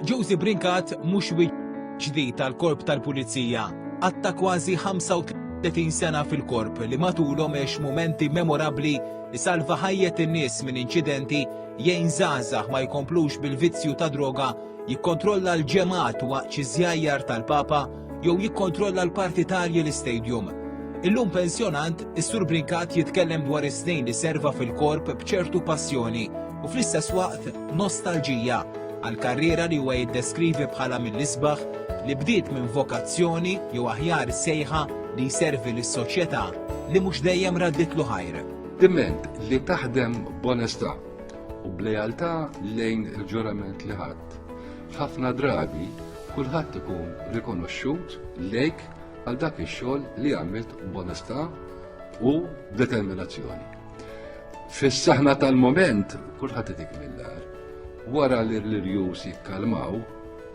Josie Brinkat mhux ġdid tal-korp tal-pulizija. Għatta kważi 35 sena fil-korp li matulhom għex momenti memorabbli li salva ħajjet in-nies minn inċidenti jgħin żgħażagħ ma jkomplux bil-vizzju ta' droga jikkontrolla l-ġemgħat waqt xi żjajjar tal-Papa jew jikkontrolla l-partitarji l-istadium. Illum pensjonant, is-Sur Brincat jitkellem dwar is-snin li serva fil-korp b'ċertu passjoni u fl-istess waqt nostalġija għal karriera li huwa jiddeskrivi bħala mill-isbaħ li bdiet minn vokazzjoni jew aħjar sejħa li jservi lis-soċjetà li mhux dejjem radditlu ħajr. Diment li taħdem b'onestà. u b'lealtà lejn il-ġurament li ħadt, ħafna drabi kulħadd ikun rikonoxxut lejk għal dak ix-xogħol li għamilt b'onestà u b'determinazzjoni. Fis-saħna tal-mument kulħadd itik mill-dar. Wara li l-irjus jikkalmaw,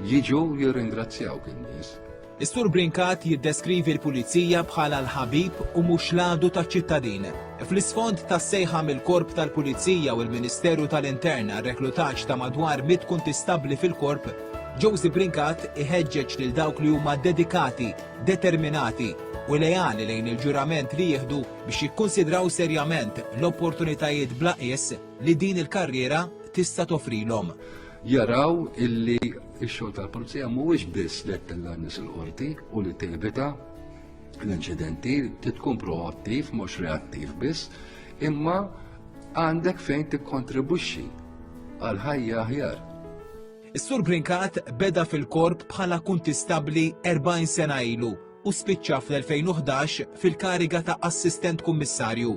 jiġu jirringrazzjawk in-nies Is-Sur Brincat jiddeskrivi l-Pulizija bħala l-ħabib u mhux l-għadu taċ-ċittadin. Fl-isfond tas-sejħa mill-Korp tal-Pulizija u l-Ministeru tal-Intern għar-reklutaġġ ta' madwar mitt kuntistabbli fil-Korp, Josy Brincat iħeġġeġ lil dawk li huma dedikati, determinati u leali lejn il-ġurament li jieħdu biex jikkunsidraw serjament l-opportunitajiet bla qies li din il-karriera tista' toffrilhom. jaraw illi x-xogħol tal-pulizija mhuwiex biss li tella' nies il-qorti u li tevita l-inċidenti, tkun proattiv, mhux reattiv biss, imma għandek fejn tikkontribwixxi għal ħajja aħjar. Is-Sur Brincat beda fil-korp bħala kuntistabbli 40 sena ilu u spiċċa fl-2011 fil-kariga ta' Assistent Kummissarju,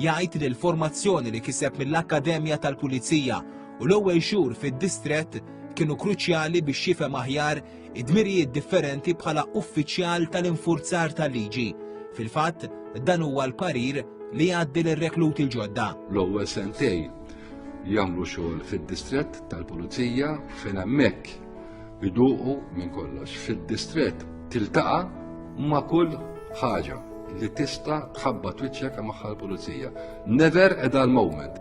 jgħid li l-formazzjoni li kiseb mill-Akkademja tal-Pulizija u l-ewwel xhur fid-distrett kienu kruċjali biex jifhem aħjar id-dmirijiet differenti bħala uffiċjal tal-infurzar tal-liġi. Fil-fatt, dan huwa l-parir li jgħaddi lir-rekluti l-ġodda. L-ewwel sentej jagħmlu xogħol fid-distrett tal-Pulizija fejn hemmhekk iduqu minn kollox fid-distrett tiltaqa' ma' kull ħaġa li tista' tħabba twiċċek magħha l-pulizija. Never a dull moment.